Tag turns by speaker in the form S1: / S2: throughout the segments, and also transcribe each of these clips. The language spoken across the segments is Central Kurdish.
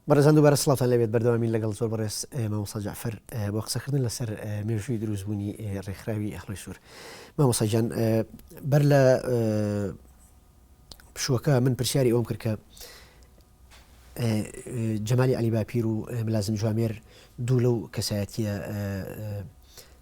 S1: بەڕێزان دووبارە سڵاتان لەبێت بەردەوامی لەگەڵ زۆر بەڕێز مامۆسا جعفر بۆ قسەکردن لەسەر مێژووی دروستبوونی ڕێکخراوی ئەخڵی سوور مامۆساجان بەر لە پشوەکە من پرسیاری ئەوم کرد کە جەمالی علی باپیر و ملازم جوامێر دوو لەو کەسایەتە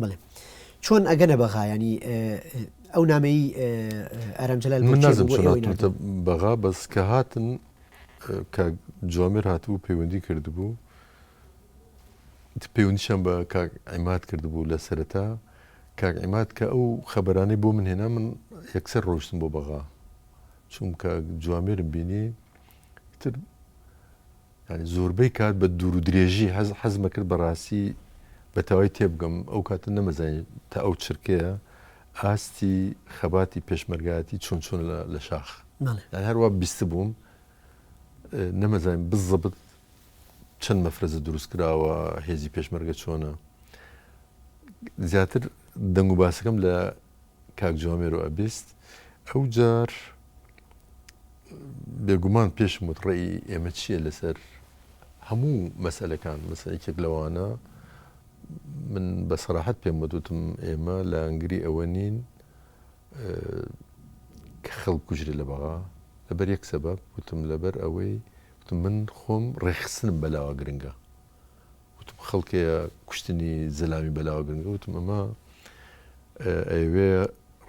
S1: بەڵێ چۆن ئەگەنە بەغا ینی ئەو نامەی ئارام جلال من نازم چۆناتە
S2: بەغا بەس کە هاتن کە جوامێر هاتبوو پەیوەندی کردبوو پەیوەندیشان بە کاک ئەمات کردبوو لە سەرەتا کاک ئەمات کە ئەو خەبەرانەی بۆ من هێنا من یەکسەر ڕۆشتم بۆ بەغا چونکە جوامێرم بینی تر یانی زۆربەی کات بە دوور و درێژی حەز حەزم ئەکرد بە ڕاستی بە تەوای تێبگەم ئەو کاتە نەمەزانی تا ئەو چرکەیە ئاستی خەباتی پێشمەرگایەتی چۆن چۆنە لە لە شاخ بەڵێ یان هەر وا بیستبووم ئە، نەمەزانیم بزەبت چەند مەفرەزە دروست کراوە هێزی پێشمەرگە چۆنە زیاتر دەنگ و باسەکەم لە کاک جوامێرو ئەبیست ئەوجار بێگومان پێشم وت ڕێی ئێمە چییە لەسەر هەموو مەسەلەکان مەسەلە یەکێک لەوانە من بە سەراحەت پێم وتوتم ئێمە لە ئەنگری ئەوە نین کە خەڵ کوژرێ لە بەغا لەبەر یەک سەبەب وتم لەبەر ئەوەی وتم من خۆم ڕێخستنم بەلاوە گرنگە وتم خەڵکەیە کوشتنی زەلامی بەلاوە گرنگە، وتم ئەمە ئەیەوێ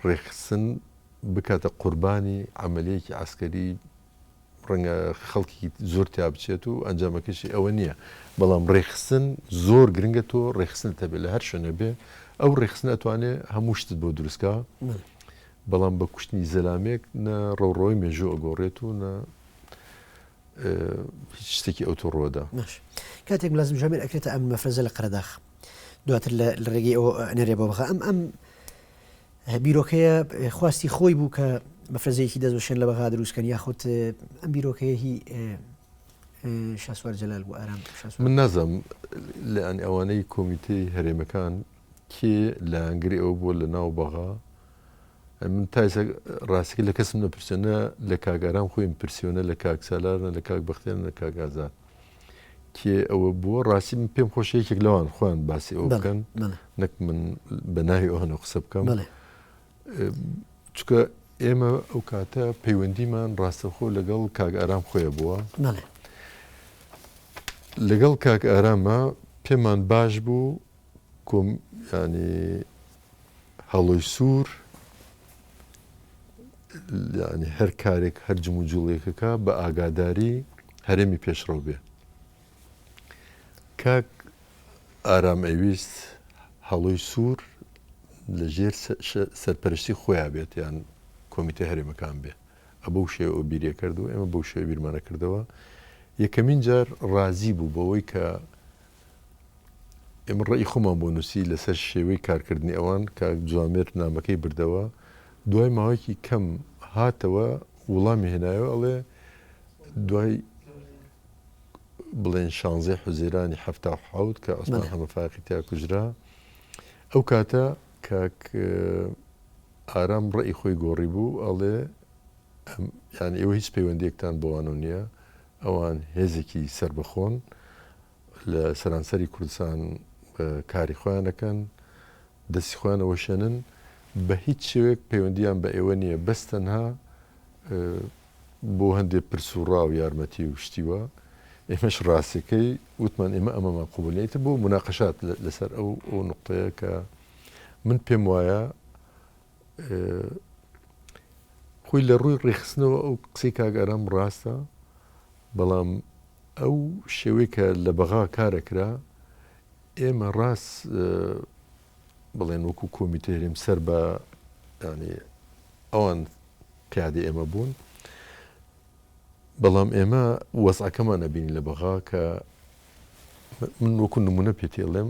S2: ڕێکخستن بکاتە قوربانی عەمەلیەکی عەسکەری ڕەنگە خەڵکی زۆر تیا بچێت و ئەنجامەکەشی ئەوە نییە، بەڵام ڕێکخستن زۆر گرنگە تۆ ڕێکخستنت هەبێت لە هەر شوێنێ بێ، ئەو ڕێکخستنە ئەتوانێ هەموو شتت بۆ دروستکا، بەڵام بە کوشتنی زەلامێک نە ڕەوڕەوەی مێژوو ئەگۆڕێت و نە هیچ شتێکی ئەو تو ڕۆدا. باش کاتێک ملازم
S1: جوامێر ئەکرێتە ئەم مەفرەزە لە قەرەداخ دواتر لە ڕێگەی ئەو نەرێ بۆ بخە ئەم ئەم بیرۆکەیە خواستی خۆی بوو کە مەفرەزەیەکی دەست بشێن لە بەغا دروستکەن یاخود ئەم بیرۆکەیە هی شاسوار جەلال بۆ ئارام من نازم
S2: لە ئەن ئەوانەی کۆمیتەی هەرێمەکان کێ لایەنگری ئەو بۆ لە ناو بەغا من تا ئێستا ڕاستیەکەی لە کەسم نەپرسیوە، نە لە کاک ئارام خۆیم پرسیوە، نە لە کاک سالار، نە لە کاک بەختیار، نە لە کاک ئازاد کێ ئەوە بووە؟ ڕاستی من پێم خۆشە یەکێک لەوان خۆیان باسی ئەوە بکەن نەک من بە ناوی ئەوانە قسە بکەم چکە ئێمە ئەو کاتە پەیوەندیمان ڕاستەخۆ لەگەڵ کاک ئارام خۆیە بووە لەگەڵ کاک ئارامە پێمان باش بوو کوم یانی هەڵۆی سوور یانی هەر کارێک هەر جمو جوڵێکەکە بە ئاگاداری هەرێمی پێشڕەو بێ کاک ئارام ئەویست هەڵۆی سوور لە ژێر سەرپەرشتی خۆیا بێت یان کۆمیتە هەرێمەکان بێ ئە بەو شێ ئەو بیرە کردو ئێمە بەو شێ بیرمانە کردەوە یەکەمین جار ڕازی بوو بەوەی کە ئێمە ڕێی خۆمان بۆ نووسی لەسەر شێوەی کارکردنی ئەوان، کاک جوامێر نامەکەی بردەوە، دوای ماوەیەکی کەم هاتەوە وڵامی هێنایەوە ئەڵێ دوای بڵێن شانزەی حوزەیرانی حەفتا و حەوت کە عوسمان حەمە فایەقی تیا کوژرا ئەو کاتە کاک ئارام ڕێی خۆی گۆڕی بوو ئەڵێ یان ئێوە هیچ پەیوەندێکتان بۆوانە نییە ئەوان هێزێکی سەربەخۆن لە سەرانسەری کوردستان کاری خۆیان دەکەن، دەستی خۆیان ئەوەشێنن، بە هیچ شێوەیەک پەیوەندییان بە ئێوە نییە، بەس تەنها بۆ هەندێ پرس و ڕا و یارمەتی و شتی وا، ئێمەش ڕاستییەکەی وتمان ئێمە ئەمەمان قبووڵ نییە، ئیتر بۆ موناقەشات لەسەر ئەو نوقتەیە کە من پێم وایە خۆی لە ڕووی ڕێکخستنەوە ئەو قسەی کاک ئارام ڕاستە بەڵام ئەو شێوەی کە لە بەغا کارەکرا ئێمە ڕاست بڵێن وەکو کۆمیتە هەرێم سەر بە ینی ئەوان پیادی ئێمە بوون بەڵام ئێمە وەزعەکەمان نەبین لە بەغا کە من وەکو نمونە پێتێڵێم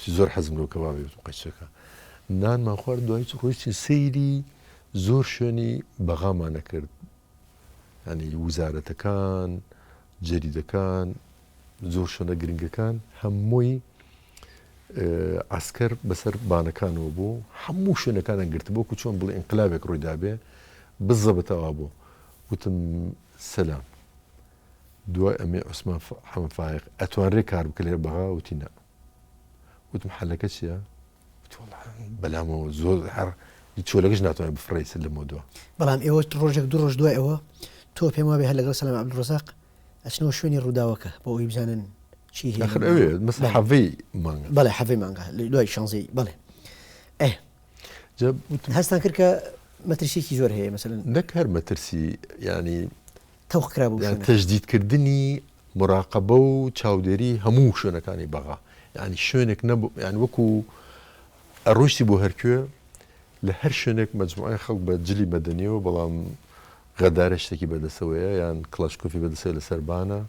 S2: چی زۆر حەزم لەو کەبابی وتم قەیچەکە نانمان خوارد دوای چ ڕۆیشتین سەیری زۆر شوێنی بەغامانە کرد ینی وزارەتەکان جەریدەکان زۆر شوێنە گرنگەکان هەمووی ئاسکەر بەسەر بانەکانەوە بوو هەموو شوێنەکانە گرت بۆ و چۆن بڵێ ئینقلابێک ڕوویدابێ بزەبتەوا بوو وتم سەسلام دوای ئەمەی عوسمان حەمە فایەق ئەتوانرێ کار بکە لێرە بەغا وتی نا وتم حەلەکە چییە؟ بەلامەوە زۆر هەر چۆلەکەش ناتوانێت بفڕیس لەمە دووە بەڵام ئێوە ڕۆژێک
S1: دو ڕۆژ دوای ئەوە تۆ پێم وابێ هەر لەگەڵ سەلام عبدڕزاق ئەچنەوە شوێنی ڕووداوەکە بۆ ئەوی بزانن چی حەڤی
S2: مانگ بەڵێ حەڤی مانگە
S1: دوای شانزی بڵێ هەستان کرد کە مەترسیکی زۆر هەیە مەسەن نەک هەر مەترسی
S2: ینی تەوق کرا
S1: بەو شوێنە. تەجدید کردنی
S2: مراقبە و چاودێری هەموو شوێنەکانی بەغا یانی شوێنێک نەبوو یان وەکو ئەڕۆشتی بۆ هەرکوێ لە هەر شوێنێک مەجموعی خەڵک بە جلی مەدەنیەوە بەڵام غەدارە شتێکی بەدەسەوەیە یان کڵاشکۆفی بەدەسەوە لە سەربانە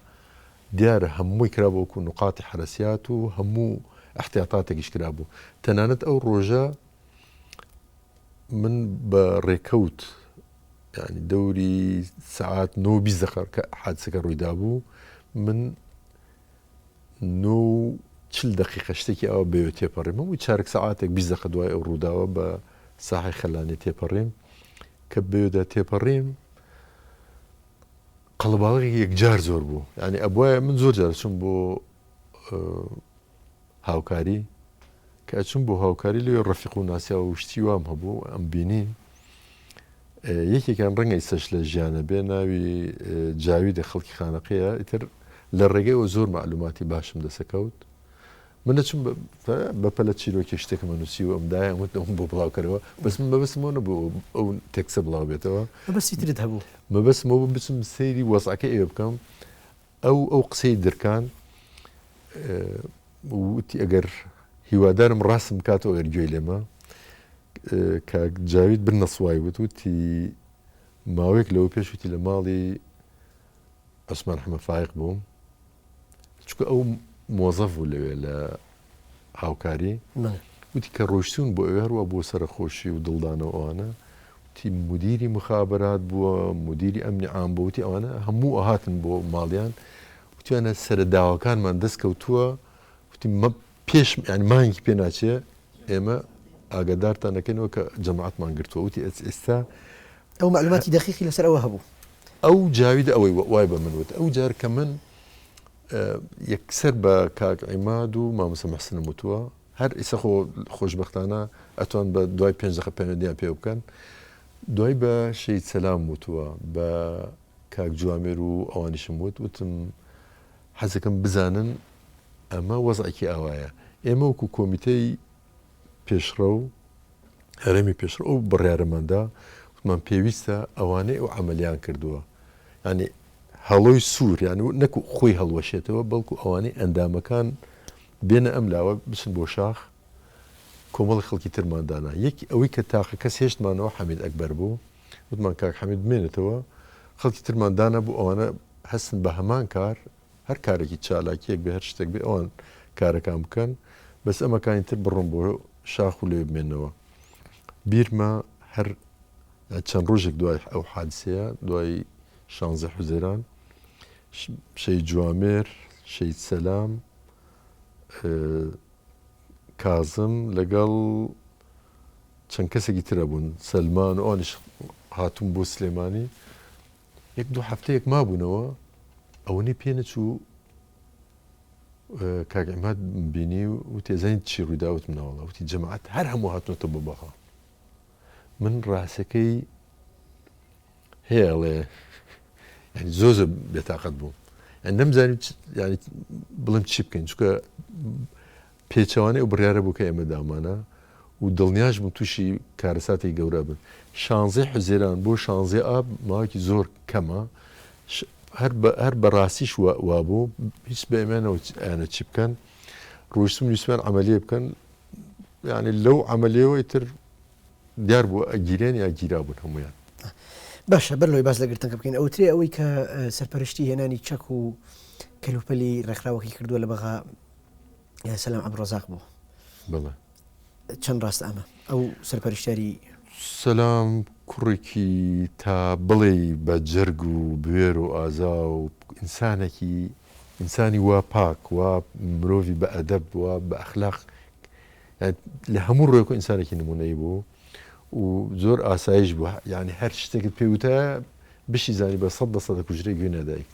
S2: دیارە هەمووی کرا بۆکو نقاتی حەرەسیات و هەموو ئەحتیاتاتێکیش کرابوو تەنانەت ئەو ڕۆژە من بە ڕێکەوت یعنی دەوری سعات نۆ بیست دەقە کە حادسەکە ڕوویدا بوو من نۆ و چل دقیقە شتێکی ئەوە بەوێ تێپەڕیم و چارەک سعاتێک بیست دقە دوای ئەو ڕووداوە بە ساحی خەلانێ تێپەڕیم کە بەوێدا تێپەڕیم قەڵەباڵغی یەکجار زۆر بوو یانی ئەبوایە من زۆر جار ئەچووم بۆ هاوکاری کە ئەچووم بۆ هاوکاری لێ ڕەفیق و ناسیا و شتی وام هەبوو ئەم بینی یەکێکیان ڕەنگە ئیسەش لە ژیانە بێ ناوی جاوی دە خەڵکی خانەقەیە ئیتر لە ڕێگەیەوە زۆر معلوماتی باشم دەسەکەوت من دەچم بە پەلە چیرۆکی شتێکم نووسیوە ئەم دایان وت ئەوم بۆ بڵاوکەرەوە بەس من مەبەستمەوە نەبوو ئەو تێکسە بڵاو بێتەوە مەبەستی ترت هەبوو
S1: مەبەستمەوە بوو بچم
S2: سەیری وەزعەکە ئێوە بکەم ئەو ئەو قسەی درکان وتی ئەگەر هیوادارم ڕاستم بکاتەوە ئەگەر گوێی لێمە کاک جاوید بن نەسوای وت وتی ماوەیەک لەوە پێشوتی لە ماڵی عوسمان حەمە فایق بوو چونکە ئەو مۆزەف بوو لەوێ لە هاوکاری وتی کە ڕۆشتون بۆ ئەوێ هەروە بۆ سەرخۆشی و دڵدانەوە ئەوانە تی مدیری مخابرات بووە مدیری ئەمنی عام بۆتی ئەوانە هەموو ئەهاتن بۆ ماڵیان وتیانە سەرە داواکانمان دەستکەوتووە وتی مە پێش یانی مانگی پێ ناچێ ئێمە ئاگادارتان دەکەینەوە کە جەماعتمان گرتووە وتی ئێستا ئەو
S1: معلوماتی دەخیقی لەسەر ئەوە هەبوو ئەو جاوید
S2: ئەوەی وای بە من وت ئەو جار کە من یەکسەر بە کاک عیماد و مامسە مەحسنم وتووە هەر ئیسە خۆ خۆشببختانە ئەتوان بە دوای پێنج دقە پێنەدیان پێ بکەن دوای بە شەید سەسلام وتووە بە کاک جوامێر و ئەوانیشم وت وتم حەزەکەم بزانن ئەمە وەزعێکی ئاوایە. ئێمە وەکو کۆمیتەی پێشڕەو، هەرێمی پێشڕەو ئەو بڕیارەمان دا، وتمان پێویستە ئەوانەی ئەو عەمەلیان کردووە، یانی هەڵۆی سوور، یانی نەک خۆی هەڵوەشێتەوە، بەڵکو ئەوانەی ئەندامەکان بێنە ئەم لاوە بچن بۆ شاخ، کۆمەڵێک خەڵکی ترمان دانا. یەک ئەوەی کە تاقەکەس هێشتمانەوە حەمید ئەکبەر بوو. وتمان کاک حەمید بمێنێتەوە خەڵکی ترمان دانەبوو ئەوانە هەستن بە هەمان کار هەر کارێکی چالاکیەک بێ هەر شتێک بێ ئەوان کارەکان بکەن بەس ئەمەکانی تر بڕۆم بۆ شاخ و لێ بمێنەوە بیرمە هەر چەند ڕۆژێک دوای ئەو حادسەیە دوای شانزە حوزێران شەی جوامێر شەید سەلام کازم لەگەڵ چەند کەسێکی تر ئەبوون سەلمان و ئەوانیش هاتوون بۆ سلێمانی یەک دوو هەفتەیەک مابوونەوە ئەوەنەی پێ نەچوو کاک عماد بینی و وتی ئەزانیت چی ڕووی دا وتم ناوەڵا وتی جەماعەت هەر هەموو هاتنەوەتە بۆ بەغا من ڕاستەکەی هێڵێ یعنی زۆر زۆر بێتاقەت بووم یعنی نەمزانیت یعنی بڵێم چی بکەین چونکە پێچەوانەی ئەو بڕیارە بوو کە ئێمە دامانە و دڵنیاش بوون تووشی کارەساتێکی گەورە ئەبن. شانزەی حوزێران بۆ شانزەی ئاب ماوەیەکی زۆر کەمە، هەر بە ڕاستیش وا بوو، هیچ بە ئێمە نەوتیانە چی بکەن، ڕۆیشتم ویستمیان عەمەلییەک بکەن، یانی لەو عەمەلییەوە ئیتر دیار بوو ئەگیرێن یا گیرابوون هەموویان. باشە
S1: بەر لەوەی باس لە گرتنەکە بکەین، ئەوترێ ئەوەی کە سەرپەرشتی هێنانی چەک و کەلوپەلی ڕێکخراوەکەی کردووە لە بەغا، سلام عبدالرزاق بوو بەڵێ
S2: چەند
S1: ڕاستە ئەمە ئەو سەرپەرشتیاری. سلام
S2: کوڕێکی تا بڵێی بە جەرگ و بوێر و ئازا و ئینسانێکی ئینسانی وا پاک وا مرۆڤی بە ئەدەب وا بە ئەخلاق لە هەموو ڕوێک و ئینسانێکی نمونەیی بوو و زۆر ئاسایش بوو یعنی هەر شتێکت پێ وتە بشی زانی بە سەد بە سەدە کوژرەی گوێ نادایکرد.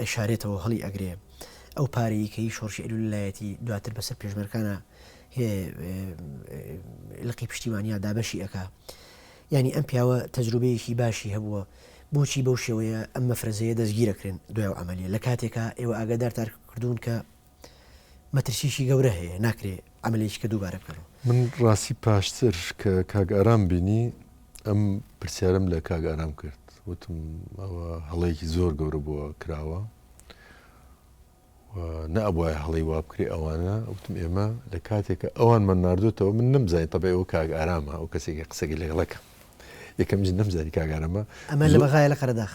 S1: ئەیشارێتەوەو هەڵی ئەگرێ ئەو پارەی کەی شۆرشی ئەلول لایەتی دواتر بەسەر پێشمەرکانە لقی پشتیوانیا دابەشی ئەک ینی ئەم پیاوە تەجروبەیەکی باشی هەبووە بۆچی بەو شێوەیە ئەم مەفرەزەیە دەستگیرەکرێن دوای ئەعملی لە کاتێکا ئێوە ئاگادار تارکردوون کە مەترسیشی گەورە هەیە ناکرێ ئەمەلێکی کە دووبارە بکەن. من ڕاستی
S2: پاشتر کە کاک ئارام بینی ئەم پرسیارم لە کاک ئارام کرد وتم ئەوە هەڵەیەکی زۆر گەورە بووە کراوە نەبواە هەڵی وابکرێ ئەوانە وتم ئێمە لە کاتێکە ئەوانمان نردوێتەوە من نمزای تەبێ ئەو کاک ئارامە ئەو کەسێکی قسەگە لەگەڵەکە یەکەم نمزاری کاگارەمە ئەمە لە بەغای لە
S1: قەرداخ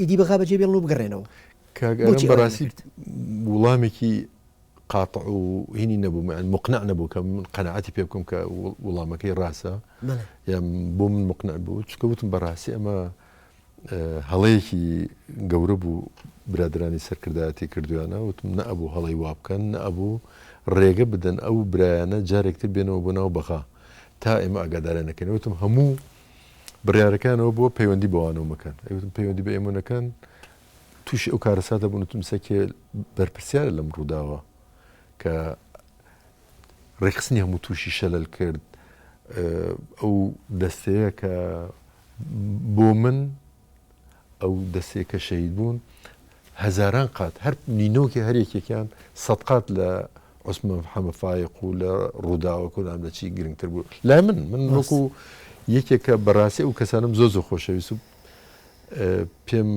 S1: ئیدی بەغا بەجێ بێڵن و بگەڕێنەوە. کاک ئارام
S2: بەڕاستی وڵامێکی قاطع و هینی نەبوو مەعن مقنع نەبوو کە من قەنەعەتی پێ بکەم کە وڵامەکەی ڕاستە یان بۆ من مقنع بوو چکە وتم بەڕاستی ئەمە هەڵەیەکی گەورە بوو برادرانی سەرکردایەتی کردویانە وتم نەبوو هەڵی وا بکەن نەبوو ڕێگە بدەن ئەو برایانە جارێکتر بێنەوە بۆ ناو بەغا تا ئێمە ئاگادارە نەکەن وتم هەموو بڕیارەکەیان ئەوە بووە پەیوەندی بەوانەوە مەکەن ئەوتم پەیوەندی بە ئێمە نەکەن تووشی ئەو کارەساتە بوون تم سەکێ بەرپرسیارە لەم ڕووداوە کە ڕێکخستنی هەموو تووشی شەلل کرد ئەو دەستەیە کە بۆ من ئەو دەستەی کە شەهید بوون هەزاران قات هەر نینۆکی هەر یەکێکیان سەد قات لە عوسمان حەمە فایق و لە ڕووداوە کۆنام لە چی گرنگتر بوو لای من من ڕاست. وەکو یەکێکە بەڕاستی ئەو کەسانم زۆر زۆر خۆشەویست و ئە، پێم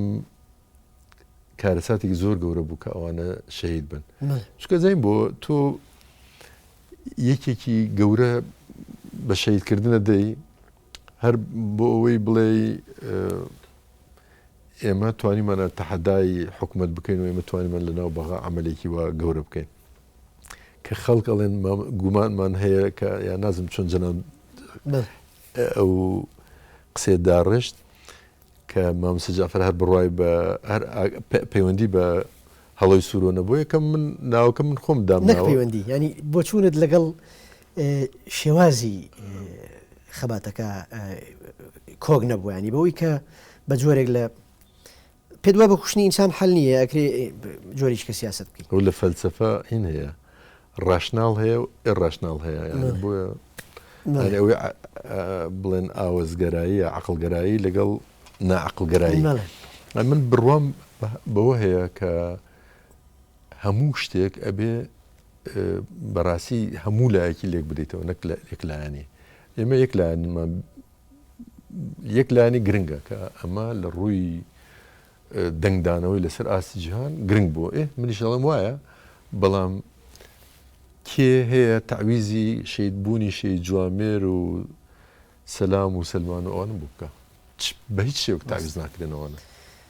S2: کارەساتێکی زۆر گەورە بوو کە ئەوانە شەهید بن بەڵێ. چونکە زەین بۆ تۆ یەکێکی گەورە بە شەهیدکردنە دەی هەر بۆ ئەوەی بڵێی ئێمە توانیمانە تەحەدای حکومت بکەین و ئێمە توانیمان لە ناو بەغا عملێکی وە گەورە بکەین کە خەڵک ئەڵێن گومانمان هەیە کە یا نازم چۆن جەنان ئەو قسێ داڕشت کە مامسە جعفر هەر بڕای بە هەر پەیوەندی بە هەڵۆی سوورۆ نەبوو یەکەم من ناوکە من خۆم دام پەیوەندی ینی
S1: بۆچوونت لەگەڵ شێوازی خەباتەکە کۆک نەبووانی بەوەی کە بە جۆرێک لە پێ دوای بە کوشتنی ئینسان حل نیە ئەکرێ جۆریش کە سیاست بکەیت ئەو لە فەلسفە
S2: هین هەیە ڕاشناڵ هەیە و ئێ ڕاشناڵ هەیە بۆیە ئەوەی بڵێن ئاوەزگەرایی عقلگەرایی لەگەڵ ناعقلگەرایی من بڕوام بەوە هەیە کە هەموو شتێک ئەبێ بەڕاستی هەموو لایەکی لێک بدەیتەوە نەک لە یەک لایەنی ئێمە یەک لایەنمان یەک لایەنی گرنگە کە ئەمە لە ڕووی دەنگدانەوەی لەسەر ئاستی جیهان گرنگ بۆ ئێ منیشڵم وایە بەڵام کێ هەیە تعویزی شید بوونی شی جوامێر و سەسلام و سلمان و ئەوانم بوو بکە بە هیچ شێوک تعویز ناکرێنەوەە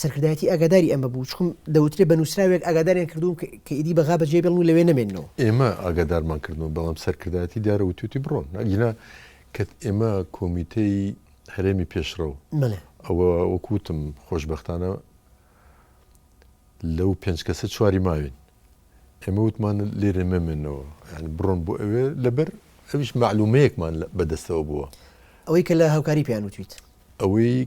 S1: سەرکردایەتی ئاگاداری ئەمە بوو، چکم دەوترێ بە نووسراوێک ئاگاداریان کردووم کە ئیدی بەغا بەجێ بێڵن و لەوێ نەمێننەوە. ئێمە ئاگادارمان
S2: کردنەوە، بەڵام سەرکردایەتی دارە وتووتی بڕۆن، ئەگینا کە ئێمە کۆمیتەی هەرێمی پێشڕەو، ئەوە وەکو وتم خۆشبەختانە لەو پێنج کەسە چواری ماوین، ئێمە وتمان لێرێ مەمێنەوە، یانی بڕۆن بۆ ئەوێ لەبەر ئەویش مەعلوومەیەکمان بەدەستەوە بووە. ئەوەی کە لە
S1: هاوکاری پێیان وتوویت؟ ئەوەی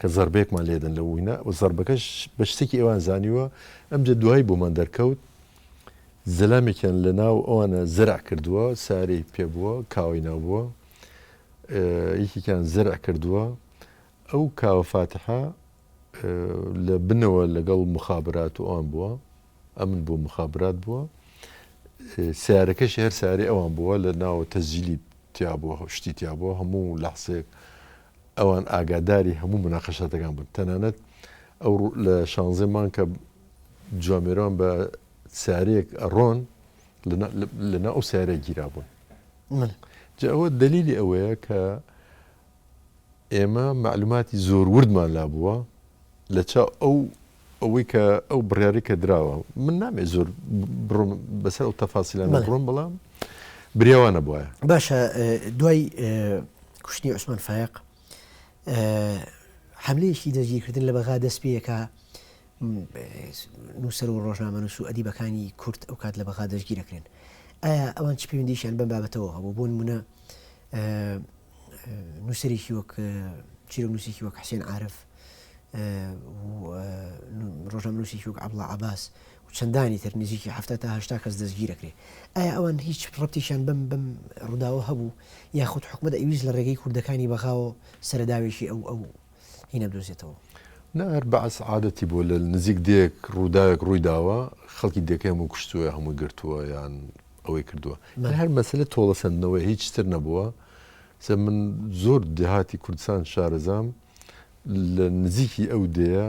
S2: کە زەربەیەکمان لێدەن لە وینا و زەربەکەش بە شتێکی ئەوان زانیوە، ئەمجە دوایی بۆمان دەرکەوت زەلامێکیان لە ناو ئەوانە زەرع کردووە، سارێی پێ بووە، کاوەی ناو بووە، یەکێکیان زەرع کردووە، ئەو کاوە فاتحە لە بنەوە لەگەڵ موخابرات و ئەوان بووە، ئەمن بووە مخابرات بووە سیارەکەشی هەر سارێ ئەوان بووە لە ناوە تەزیلی تیابووە شتی تیابووە هەموو لەحسێک ئەوان ئاگاداری هەموو مناقەشاتەکان بن تەنانەت ئەو لە شانزێ مانکە جوامێران بە سارێک ئەڕۆن لەنا ئەو سارە گیرا بوون جا ئەوە دلیلی ئەوەیە کە ئێمە معلوماتی زۆر وردمان لا بووە لە چاو ئەو ئەوەی کە ئەو بڕیاری کە دراوە من نامێ زۆر بڕۆم بەسەر ئەو تەفاسیلانە بڕۆم بەڵام بریاوانە بواە باشە
S1: دوای کوشتنی عوسمان فایق حملەیەکی دەستگیرکردن لە بەغا دەست پێەکە نووسەر و ڕۆژنامە نووس و ئەدیبەکانی کورت ئەو کات لە بەغا دەستگیرەکرێن ئایا ئەوان چ پێویندیشیان بەم بابەتەوە هەبوو بۆن منە نووسەرێکی وەک چیرۆکنووسێکی وەک حسێن عارف ڕۆژنامەنووسێکی وەک عەبڵا عباس و چەندانی تر نزیکی هەفتا تا هشتا کەس دەستگیرەکرێ ئایا ئەوان هیچ ڕەتیشان بم بم ڕووداوە هەبوو یاخود حکومت ئەویست لە ڕێگەی کوردەکانی بەغاوە سەرداوێکی ئەو ئەو هی نەبدۆزێتەوە. نا هەر بەعس
S2: عادەتی بووە لە نزیک دێیەک ڕووداوێک ڕووی داوە خەڵکی دێکەی هەمووی کوشتووە یا هەمووی گرتووە یان ئەوەی کردووە یان هەر مەسەلە تۆڵە سەندنەوەیە هیچ تر نەبووە سە من زۆر دێهاتی کوردستان شارەزام لە نزیکی ئەو دێیە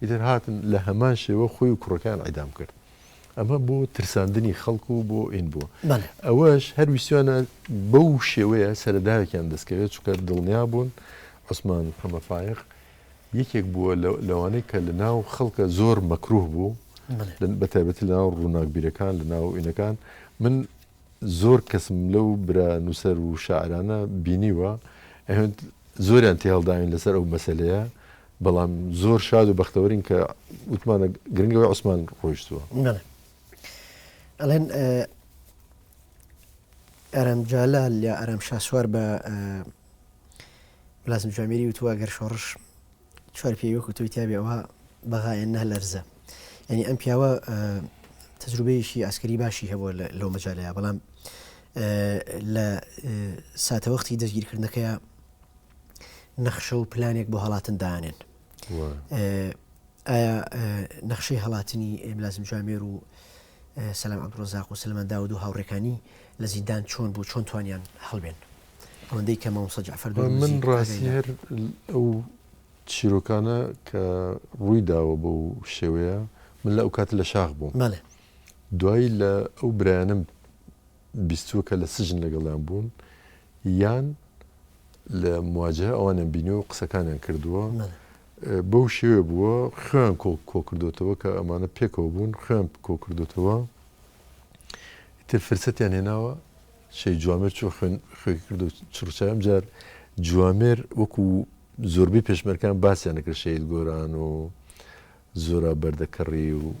S2: ئیتر هاتن لە هەمان شێوە خۆی و کوڕەکەیان ئیدام کرد ئەمە بۆ ترساندنی خەڵک و بۆ ئین بووە ئەوەش هەر ویسیانە بەو شێوەیە سەرداوێکیان دەستکەوێت چکە دڵنیا بوون عوسمان محەممە فاق یەکێک بووە لەوانەی کە لە ناو خەڵکە زۆر مەکروه بوو بە تایبەتی لە ناو ڕووناکبیرەکان لە ناو ئینەکان من زۆر کەسم لەو برا نووسەر و شاعرانە بینیوە ئەهێند زۆریان تێهەڵداوین لەسەر ئەو مەسەلەیە، بەڵام زۆر شاد و بەختەوەرین کە وتمانە گرنگەوەی عوسمان ڕۆیشتووە. بەڵێ.
S1: ئەڵێن ئە، ئارام جەلال یا ئارام شاسوار بە، ملازم جامیری وتووە، گەر شۆڕش، چوار پیاوی وەکو تۆی تیابێ ئەوە بەغایە نە لەرزە یعنی ئەم پیاوە تەجروبەیەکی ئاسکەری باشی هەبووە لەو مەجالەیە بەڵام لە ساتەوەختی دەستگیرکردنەکەی نەخشە و پلانێک بۆ هەڵاتن دانێن ئایا نەخشەی هەڵاتنی ئێملازم جامێر و سەلام عەبدوڕەزاق و سەلمان داود و هاوڕێکانی لە زیندان چۆن بوو چۆن توانیان هەڵبێن ئەوەندەی کە مامۆستا جەعفەر دۆ من ڕاستی هەر
S2: ئەو چیرۆکانە کە ڕووی داوە بە و شێوەیە من لە ئەو کات لە شاخ بووم دوایی لە ئەو برایانم بیستووەکە لە سجن لەگەڵیان بوون یان لە مواجهە ئەوانیان بینی و قسەکانیان کردووە بەو شێوێ بووە خوێن کۆڵ کۆکردوێتەوە کە ئەمانە پێکەوە بوون خوێن کۆکردوێتەوە تر فرسەتیان هێناوە شەی جوامێر چۆ خوێن خوێ کرد و چڕچام جار جوامێر وەکو زۆربەی پێشمەرکان باسییان نەکرد شەید گۆران و زورا بەردەکەڕی و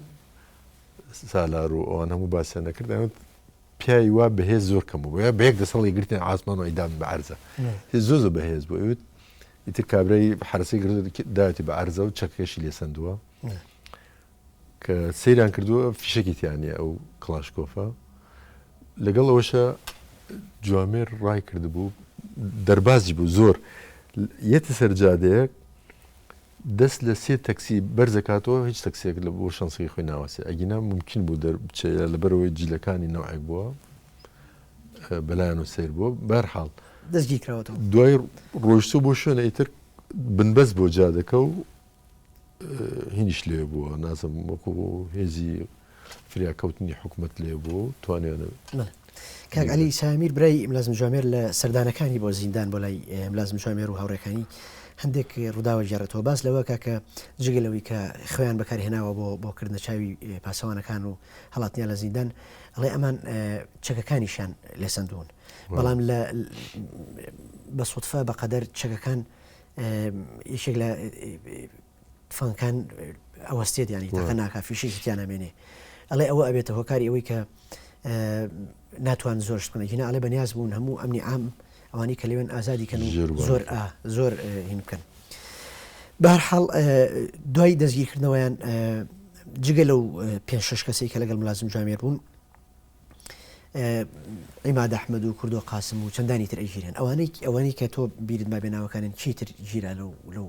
S2: سالار و ئەوان هەموو باسیان دەکرد ئەوت پیاوی وا بەهێز زۆر کەم بوو بە یەک دەسەڵی گرتن ئاسمان و ئەیدان بە عەرزە زۆ زۆ بەهێز بوو ئەوت ئیتر کابرای حرسی گرت داوێتی بە عەرزە و چەکەکەشی لێ سندووە کە سەیران کردووە فیشکی تیانە ئەو کلاشکۆفە لەگەڵ ئەوشە جوامێر ڕای کردبوو دەربازی بوو زۆر یەتی سەرجادەیەک دەست لە سێ تەکسی بەرز ئەکاتەوە هیچ تەکسیەک لە بۆ شەنسەکەی خۆی ناوەستێ ئەگینا مومکین بوو دەر بچێ یا لەبەرەوەی جلەکانی نەوعێک بووە بەلایانەوە سەیر بووە بەرحاڵ دەستگی کراوەتەوە
S1: دوای
S2: ڕۆیشتوو بۆ شوێنە ئیتر بنبەست بۆ جادەکە و هینیش لێ بووە نازم وەکو هێزی فریاکەوتنی حکومەت لێ بووە و توانیانە. کاک
S1: عەلی سامیر برای ملازم جوامێر لە سەردانەکانی بۆ زیندان بۆ لای ملازم جوامێر و هاوڕێکانی هەندێک ڕووداوە گێڕێتەوە باس لەوە کاکە جگە لەوەی کە خوێن بەکارهێناوە بۆ بۆ کردنە چاوی پاسەوانەکان و هەڵاتنیا لە زیندان ئەڵێ ئەمان چەکەکانیشان لێ سندون بەڵام لە بە سوودفە بەقەدەر چەکەکان یەکێک لە تفەنگەکان ئەوەستێت ینی تەقە ناکە فیشێکی تیان نامێنێ ئەڵێ ئەوە ئەبێتە هۆکاری ئەوەی کە ناتوان زۆر شتکەن هینا ئەڵێ بەنیاز بوون هەموو ئەمنی ئام ئەوانی کە لەوێن ئازادی کەن زۆر زۆر هین بکەن بارحاڵ دوای دەستگیرکردنەوەیان جگە لەو پێ شش کەسی کە لەگەڵ ملازم جامێر بوون ئیماد ئەحمد و کوردۆ قاسم و چەندانی تر ئەگیرێن ئەوانەی ئەوەنی کە تۆ بیرت ما بێناوەکانن چیتر گیرا لەو لەو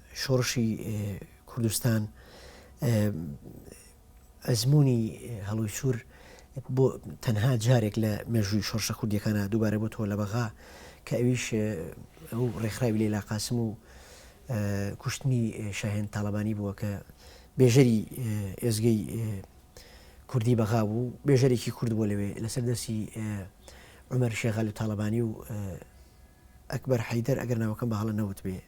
S1: شۆڕشی کوردستان ئەزمونی هەڵوی سوور بۆ تەنها جارێک لە مێژووی شۆرشە کوردیەکانە دووبارە بۆ تۆ لە بەغا کە ئەویش ئەو ڕێکخراوی لە لاقاسم و کوشتنی شاهێن تاالبانی بووە کە بێژەری ئێزگەی کوردی بەغا بوو بێژەرێکی کورد بۆ لەوێ لەسەر دەستی عمر شێغال و تاالبانی و ئەکبەر حەیدەر ئەگەر ناوەکەم بە هەڵە نەوتبێ.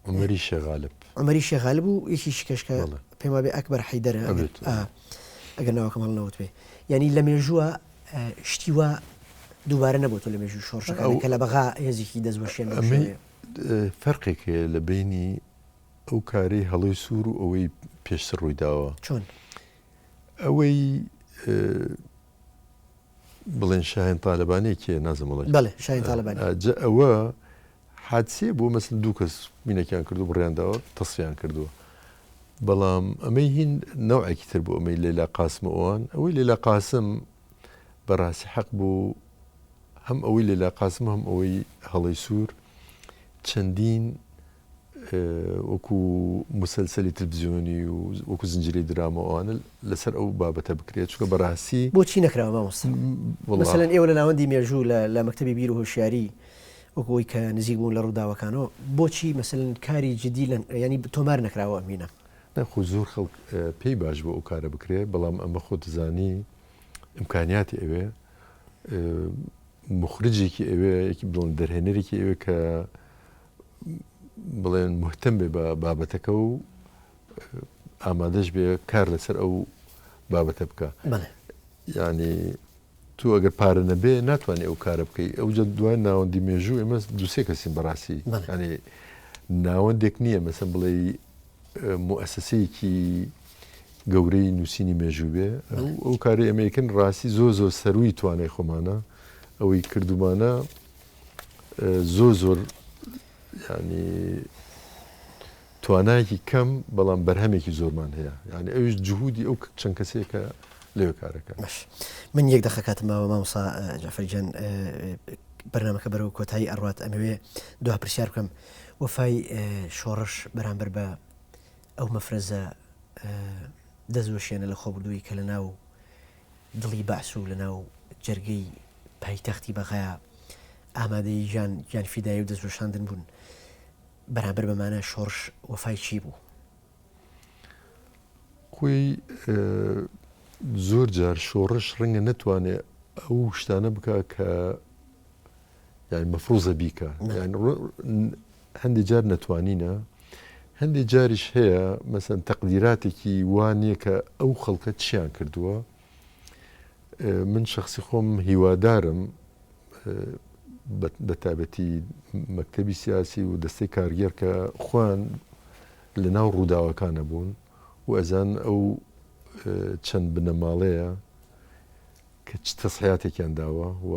S1: عومەری شێخ غالب. عومەری شێخ غالب و یەکیشی کەش کە بەڵێ. پێم وابێ ئەکبەر حەیدەرە ئەگەر ئەبێت، ئا ئەبێت. ئەگەر ناوەکەم هەڵە نەوتبێ. یانی لە مێژووە ئە شتی وا دووبارە نەبۆتۆ لە مێژووی شۆڕشەکان ئەو. کە لە بەغا هێزێکی دەستوەشێن بەو ئەمەی شێوەیە. ئە
S2: فەرقێک هەیە لە بەینی ئەو کارەی هەڵۆی سوور و ئەوەی پێشتر ڕووی داوە. چۆن؟ ئەوەی ئە بڵێن شاهێن تالەبانی کێ نازم وڵی بەێ شاین تالەبانی
S1: جە ئەوە
S2: حادسێ بۆ مەسن دوو کەس مینەکیان کردو بڕیانداوە تەسیان کردووە بەڵام ئەمەی هین نەوعێکی تر بۆ ئەمەی لەلا قاسم ئەوان ئەوەی لەلا قاسم بەڕاستی حەق بوو هەم ئەوەی لەلا قاسم هەم ئەوەی هەڵی سوور چەندین وەکو موسەلسەلی تلفزیۆنی و وەکو زنجیرەی دراما و ئەوانە لەسەر ئەو بابەتە بکرێت چونکە بەڕاستی. بۆچی نەکراوە مامۆستا؟
S1: وەڵا. مەسەلەن ئێوە لە ناوەندی مێژوو لە لە مەکتەبی بیر و هۆشیاری وەکو ئەوەی کە نزیک بوون لە ڕووداوەکانەوە بۆچی مەسەلەن کاری جدی لە یانی تۆمار نەکراوە ئەمینە؟ نا خۆ زۆر خەڵک
S2: پێی باش بوو ئەو کارە بکرێت بەڵام ئەمە خۆت دەزانی ئیمکانیاتی ئەوێ موخرجێکی ئەوێ یەکی بڵێن دەرهێنەرێکی ئەوێ کە بڵێن مهتەم بێ بە بابەتەکە و ئامادەش بێ کار لەسەر ئەو بابەتە بکە ینی تو ئەگەر پارە نەبێ ناتوانانی ئەو کارە بکەی ئەو جە دوای ناوەندی مێژوو ئێمە دوسێ کەسین بەڕاستی ینی ناوەندێک نییە مەسم بڵێ موسسەیەکی گەورەی نووسینی مێژوو بێ ئەو کاری ئەمریکن ڕاستی زۆ زۆر سەروی توانای خۆمانە ئەوەی کردومانە زۆر زۆر ینی توانایەکی کەم بەڵام بەرهەمێکی زۆرمان هەیە یعنی ئەوش جهودی ئەو چەند کەسێکە لێو کارەکە مەش من یەک
S1: دەخەکاتمەوە مامسا جافرجان بەرنمەکە بەرەو کۆتایی ئەڕات ئەمەوێ دو پرسیار بکەم وەفای شۆڕش بەرامبەر بە ئەو مەفرەزە دەستوەشێنە لە خۆبردووی کە لە ناو دڵی بەعس و لەناو جەرگەی پایتەختی بەغا ئامادەی گیان گیانفیدایی و دەستوەشاندن بوون بەرامبەر بە مانای شۆڕش وەفای چی بوو؟
S2: خۆی زۆر جار شۆڕش ڕەنگە نەتوانێ ئەو شتانە بکا کە یعنی مەفروزە بیکە هەندی جار نەتوانینە هەندی جاریش هەیە مەسەن تەقدیراتێکی وانە کە ئەو خەڵکە چیان کردووە من شخصی خۆم هیوادارم بە تابەتی مەکتتەبی سیاسی و دەستەی کارگەر کە خوان لە ناو ڕووداوەکانە بوون و ئەزان ئەو چەند بنەماڵەیە کە چ تەسحیاتێکیان داوە و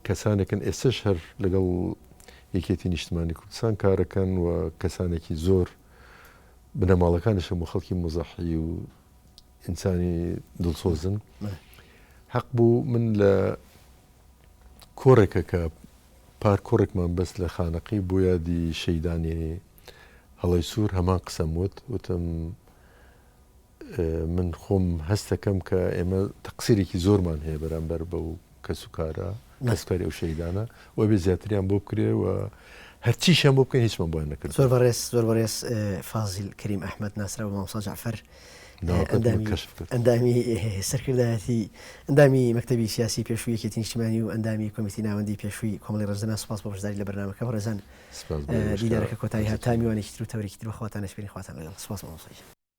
S2: کەسانێکن ئێستەش هەر لەگەڵ یەکێتی نیشتمانی کوردستان کارەکەن و کەسانێکی زۆر بنەماڵەکانیشم و خەڵکی مزەحی و ئینسانی دڵسۆزن حەق بوو من لە کۆڕێکە کە پار کۆڕێکمان بەس لە خانەقی بۆ یادی شەیدانی هەڵی سوور هەمان قسەم وت وتم من خۆم هەستەکەم کە ئێمە تەقسیرێکی زۆرمان هەیە بەرامبەر بەو کەس و کارە کەسکاری ئەو شەیدانە و بێ زیاتریان بۆ بکرێ و هەرچیشیان بۆ بکەن هیچمان بۆیان نەکرد زۆر بەڕێز زۆر بەڕێز
S1: فازیل کەریم ئەحمد ناسرا بە مامۆستا جعفر ئەندامی سەرکردایەتی ئەندامی مەکتتەبی سیاسی پێشووی یەکێتی نیشتمانی و ئەندامی کۆمیتی ناوەندی پێشووی کۆمەڵی ڕزنە سپاس بۆ بەشداری لە بەرنمەکە ڕێزان دیدارەکە کۆتایی هاتامیوانێکی تر و تەوریکی تر بەخواتان نشپێنی خواتان لەگەڵ سپاس مامۆستا